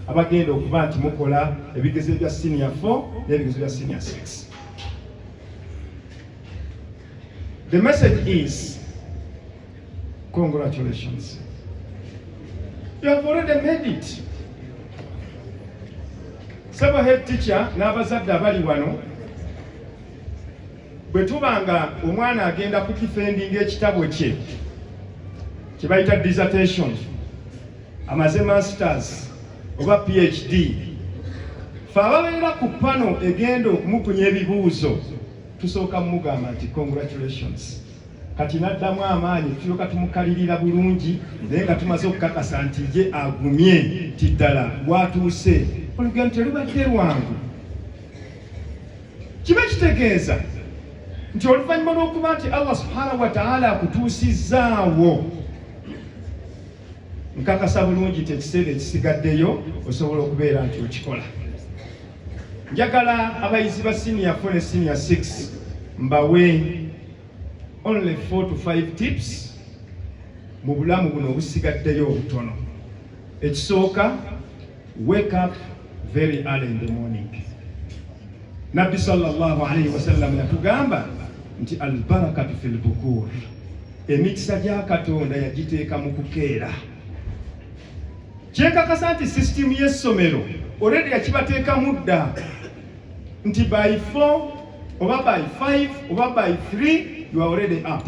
abagenda okuba nti mukola ebigezo bya senior 4 n'ebigezo bya senior 6 the message is congratulations you have already made it sebo head teacher n'abazadde abali wano bwe tuba nga omwana agenda kukifendinga ekitabo kye kye bayita dissertation amaze masters oba phd fe ababeera ku pano egenda okumukunya ebibuuzo tusooka mumugamba nti congratulations kati naddamu amaanyi tulyoka tumukalirira bulungi naye nga tumaze okukakasa nti ye agumye nti ddala watuuse olugendo telubadde lwangu kiba kitegeeza nti oluvannyuma lw'okuba nti allah subhanahu wataala akutuusizzaawo nkakasa bulungi nti ekiseera ekisigaddeyo osobola okubeera nti okikola njagala abayizi ba siniya fo ne siniya 6 mbawe only 4 to 5 tips mu bulamu buno obusigaddeyo obutono ekisooka Wake up very early in the morning. Nabbi sallallahu alayhi wa sallam yatugamba nti albarakatu fil bukur, emikisa gya Katonda yagiteeka mu kukeera. Kyekakasa nti sisitimu y'essomero already yakibateekamu dda nti by 4 oba by 5 oba by 3 you are already up.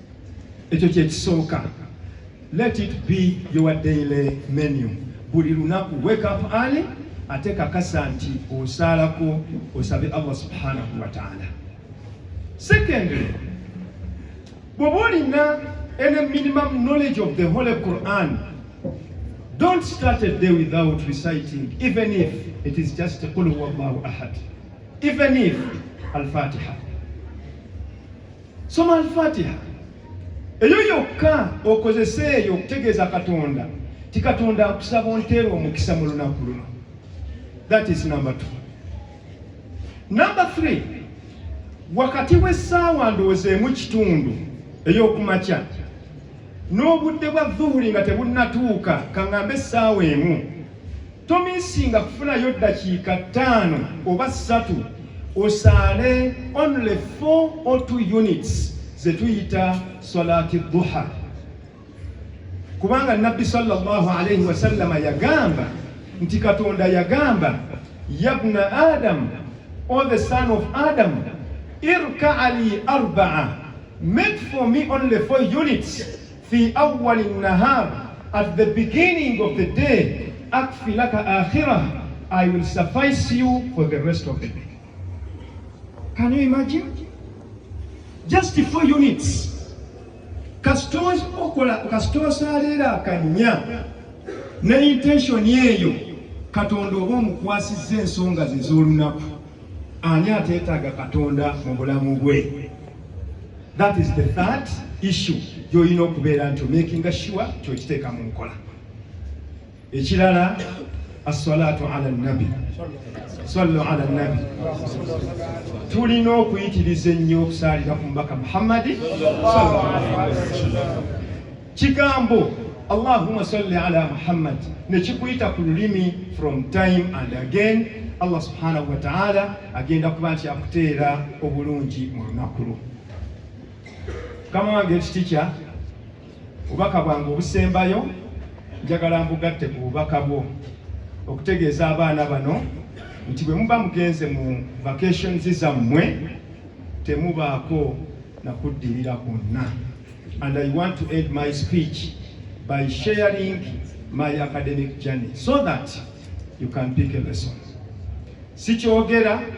ekyo kyekisooka let it be your daily menu buli lunaku wake up early ate kakasa nti osaalako osabe allah subhanahu wataala secondly bwoba olina any minimum knowledge of the holy quran don't start a day without reciting even if it is just qul huwa llahu ahad even if alfatiha soma alfatiha eyo yokka okozese eyo okutegeeza katonda ti katonda akusaba onteera omukisa mu lunaku luno that is number two number three wakati w'essaawa ndowooza emu kitundu ey'okumakya n'obudde bwa zuhuri nga tebunnatuuka kaŋŋambe essaawa emu tomisinga kufunayo ddakiika ttaano oba ssatu osaale only 4 or 2 units zetuyita salati duha kubanga nabbi sallallahu alaihi wasallama yagamba nti katonda yagamba yabna adamu or the son of Adam, irka ali arba'a, make for me only four units fi awwali nahar at the beginning of the day akfi laka akhirah I will suffice you for the rest of the day. Can you imagine? Just four units. Kasita okola kasita osaalira akanya ne intention eyo Katonda oba omukwasizza ensonga ze z'olunaku. Ani ateetaaga Katonda mu bulamu bwe? That is the third issue gy'olina okubeera nti omakinga sure kyokiteeka mu nkola. Ekirala aswalaatu ala nabi sallu ala nabi, tulina okuyitiriza ennyo okusaalira ku mubaka Muhammadi sallallahu alaihi wasallam. kigambo allahuma salli ala muhammad nekikuyita ku lulimi from time and again allah subhanahu wataala agenda kuba nti akuteera obulungi mu lunaku lwo kama wange ekitikya obubaka bwange obusembayo njagala mbugatte ku bubaka bwo okutegeeza abaana bano nti bwe muba mugenze mu vacations zammwe temubaako nakuddirira kwonna And I want to end my speech by sharing my academic journey so that you can pick a lesson. Sikyogera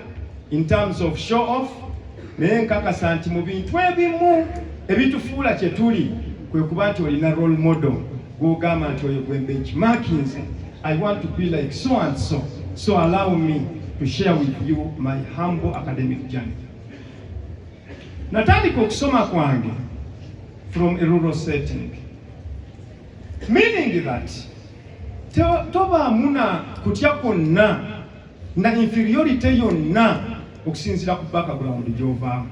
in terms of show off naye nkakasa nti mu bintu ebimu ebitufuula kye tuli kwe kuba nti olina role model gw'ogamba nti oyo gwe benchmarkinze I want to be like so and so so allow me to share with you my humble academic journey. natandika okusoma kwange from a rural setting meaning that tobaamu na kutya kwonna na inferiority yonna okusinziira ku background gy'ovaamu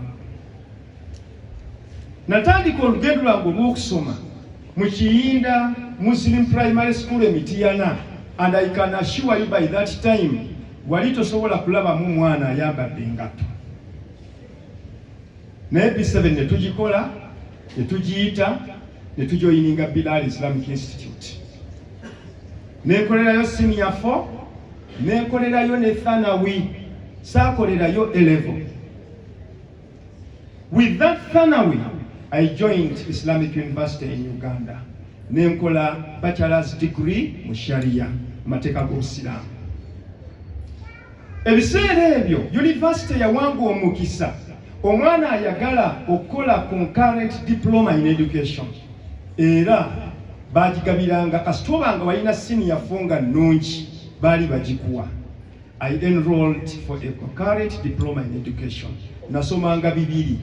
natandika olugendo lwange olw'okusoma mu kiyinda muslim primary school emitiyana and i can assure you by that time wali tosobola kulabamu mwana ayambadde engatto naye B7 ne tugikola ne tugiyita ne tujoyininga Bilal Islamic Institute nekolerayo senior 4 nekolerayo ne thanawi saakolerayo elevo with that thanawi I joined Islamic University in Uganda nenkola bachelor's degree mu sharia mateeka g'obusiraamu Ebiseera ebyo yunivasite yawanga omukisa omwana ayagala okukola concurrent diploma in education era baagigabiranga kasita oba nga walina siniya fo nga nnungi baali bagikuwa i enrolled for a concurrent diploma in education nasomanga bibiri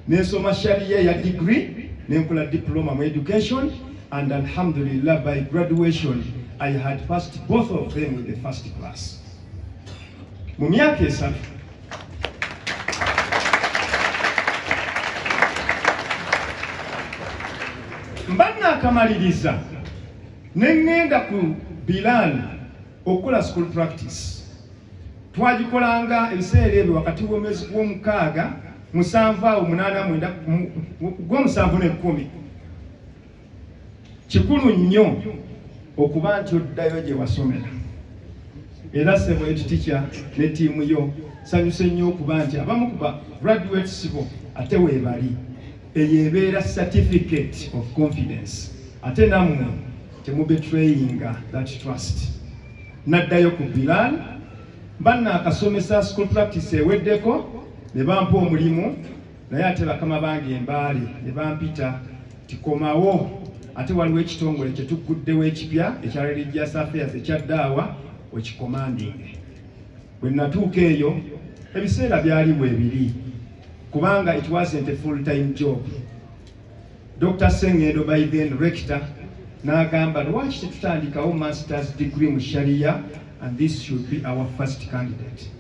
nensoma shariya ya degree nenkola diploma mu education and alhamdulillah by graduation i had passed both of them in the first class mu myaka esatu mba nakamaliriza ne ŋŋenda ku Bilal okukola school practice twagikolanga ebiseera ebyo wakati w'omwezi gw'omukaaga musanvu awo munaana mwenda gw'omusanvu n'ekkumi kikulu nnyo okuba nti oddayo gye wasomera era sebo ekitikya ne tiimu yo sanyuse nnyo okuba nti abamu kuba graduate sibo ate weebali eyo ebeera certificate of confidence ate nammwe temubetrayinga that trust naddayo ku bilal banna akasomesa school practice eweddeko ne bampa omulimu naye ate bakama bange embaale ne bampita tikomawo ate waliwo ekitongole kye tugguddewo ekipya ekya religious affairs ekya daawa okikomandinge bwe natuuka eyo ebiseera byali weebiri kubanga it wasn't a full time job dr sengendo by then rector n'agamba lwaki tetutandikawo masters degree mu sharia and this should be our first candidate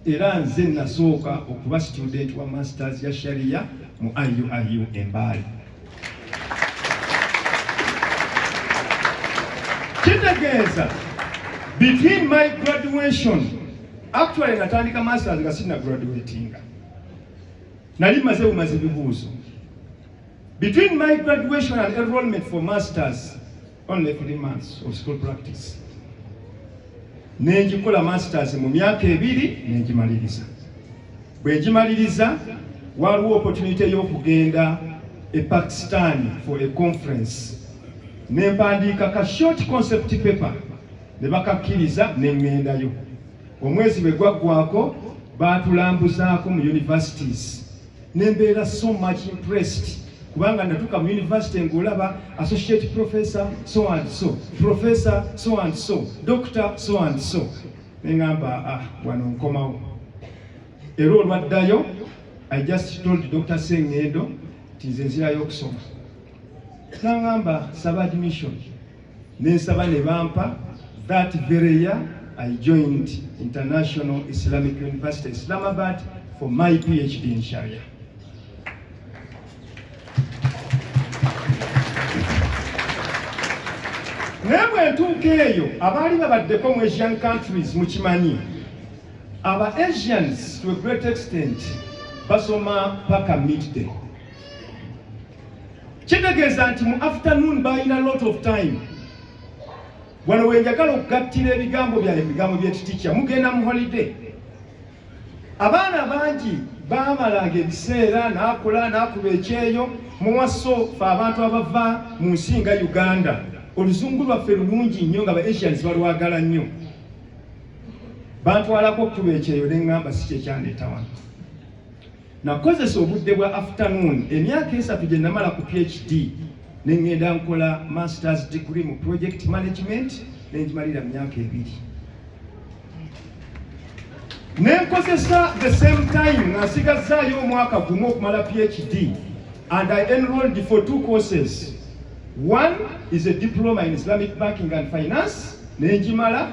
era nze nasooka okuba situdenti wa masters ya sharia mu iuiu embaali kitegeeza between my graduation actually natandika masters nga sina graduatinga nali maze bumazi bibuuzo between my graduation and enrollment for masters only three months of school practice nenjikola masters mu myaka ebiri nenjimaliriza bwenjimaliriza waliwo opportunity y'okugenda e pakistan for a conference nempandiika ka short concept paper ne bakakkiriza nengendayo omwezi bwe gwaggwako baatulambuzaako mu universities nembeera so much impressed kubanga natuka mu university ngolaba associate professor so and so professor so and so doctor so and so neŋamba ah wano nkomawo era olwaddayo i just told dr sengendo nti nze nzirayo okusoma naŋamba saba admission nensaba ne bampa that very year I joined International Islamic University Islamabad for my PhD in Sharia. naye bwe ntuuka eyo abaali babaddeko mu asian countries mukimanyi aba asians to a great extent basoma paka midday kitegeeza nti mu afternoon balina lot of time wano wenjagala okugattira ebigambo byaye ebigambo byetitikya mugenda mu holiday abaana bangi bamalanga ebiseera nakola nakuba ekyeyo muwaso fe abantu abava mu nsi nga uganda oluzungu lwaffe lulungi nnyo nga ba asians balwagala nnyo bantwalako okutuba ekyeyo neŋŋamba si kyekyandeeta wano Nakozesa obudde bwa afternoon emyaka esatu gye namala ku PhD ne ngenda nkola masters degree mu project management ne ngimalira mu myaka ebiri ne nkozesa the same time nga nsigazzaayo omwaka gumu okumala PhD and I enrolled for two courses one is a diploma in Islamic banking and finance ne ngimala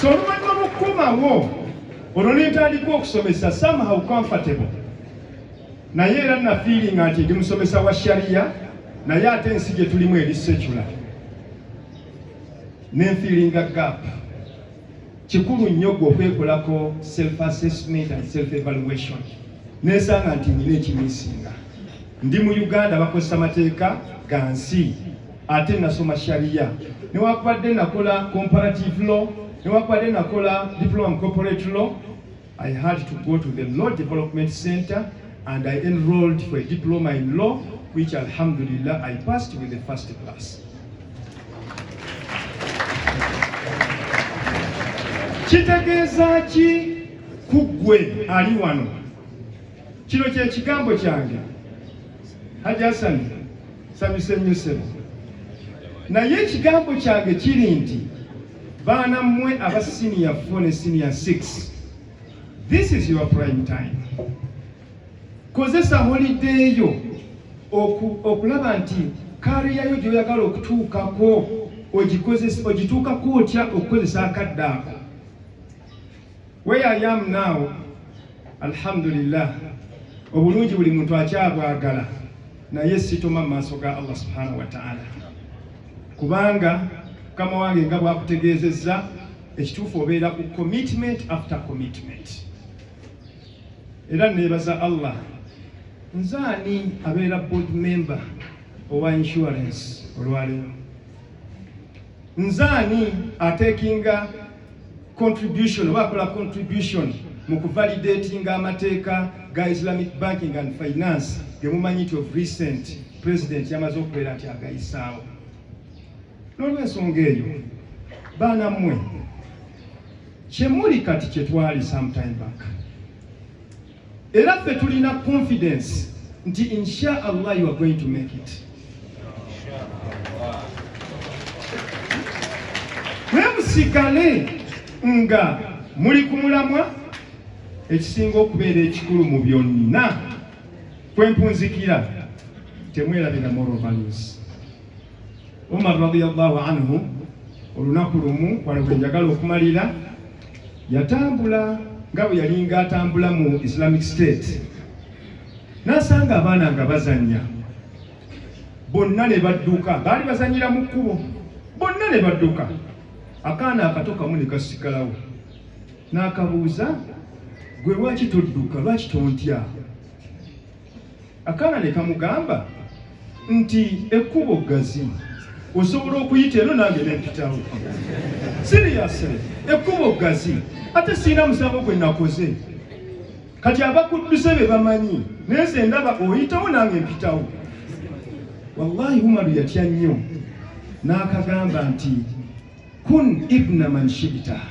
so oluvannyuma lwokukomawo olwo nentandika okusomesa somehow comfortable naye era nafiiringa nti ndi musomesa wa shariya naye ate ensi gye tulimu eri secula nenfiiringa gap Kikulu nnyo gwe okwekolako self assessment and self evaluation. Nensanga nti nina ekimisinga. Ndi mu Uganda bakozesa mateeka ga nsi ate nasoma sharia. Newakubadde nakola comparative law, newakubadde nakola diploma mu corporate law, I had to go to the Law Development Center and I enrolled for a diploma in law, which alhamdulillah I passed with the first class. kitegeeza ki ku ggwe ali wano kino kye kigambo kyange hajji hasani samisemiusebo naye ekigambo kyange kiri nti Baana mmwe aba senior 4 ne senior 6, this is your prime time. Kozesa holiday yo okulaba nti kariya yo gy'oyagala okutuukako ogituukako otya okukozesa akadde ako. Where I am now, alhamdulillah, obulungi buli muntu akyabwagala naye sitoma mu maaso ga Allah subhanahu wa ta'ala, kubanga mukama wange nga bwakutegeezezza ekituufu obeera ku commitment after commitment. Era neebaza Allah nze ani abeera board member owa insurance olwaleero, nze ani atekinga contribution oba akola contribution mu kuvalidatinga amateeka ga islamic banking and finance gemumanyi nti of recent president yamaze okubeera nti agayisaawo n'olwensonga eyo baana mmwe kyemuli kati kyetwali sometime back era ffe tulina confidence nti insha allah you are going to make it mwemusigale nga muli ku mulamwa ekisinga okubeera ekikulu mu byonna kwempunzikira temwerabira moral values umar radiallahu anhu olunaku lumu wano kwenjagala okumalira yatambula nga bwe yalinga atambula mu islamic state n'asanga abaana nga bazannya bonna ne badduka baali bazanyira mu kkubo bonna ne badduka akaana akato kamu ne kasikalawo n'akabuuza gwe lwaki todduka lwaki tontya Akaana ne kamugamba nti ekkubo ggazi osobola okuyita eno nange nempitawo siriyasire ekkubo ggazi ate sirina musango gwe nakoze kati abakudduse be bamanyi naye nze ndaba oyitawo nange mpitawo wallahi umaru yatya nnyo n'akagamba nti kun ibna man shibitaha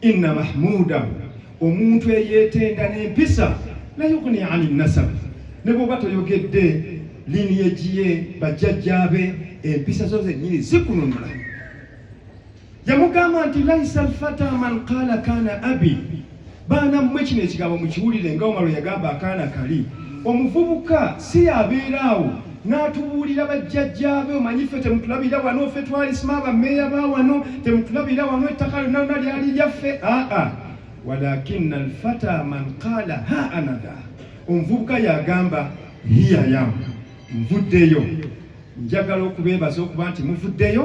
inna mahmuda omuntu eyeetenda n'empisa layugni ani nasab ne bwoba toyogedde lini egiye bajjajjaabe empisa zo zennyini zikununula yamugamba nti laisa alfata man qaala kaana abi baana mmwe kino ekigambo mukiwulire nga omalo yagamba akaana kali omuvubuka si yabeera awo n'atubuulira bajjajjaabe omanyi ffe temutulabira wano ffe twalisima abameeya ba wano temutulabira wano ettaka lyonna lona lyali lyaffe aa walakina alfata man qaala ha anada omuvubuka yagamba hiyayamu nvuddeyo njagala okubeebaza okuba nti muvuddeyo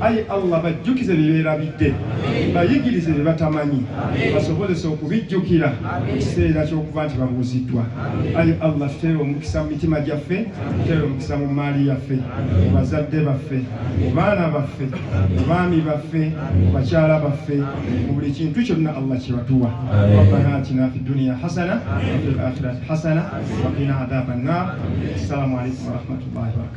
ayi allah bajjukize byeberabidde bayigirize bye batamanyi basobozese okubijjukira ekiseera kyokuba nti babuuziddwa ayi allah tuteere omukisa mu mitima gyaffe tuteere omukisa mu maali yaffe mu bazadde baffe mu baana baffe mu baami baffe mu bakyala baffe mu buli kintu kyonna allah kyebatuwa rabbana atina fi duniya hasana wafi lakhirati hasana wakina adaba nnar assalamu alaikum warahmatullahi wabarakatu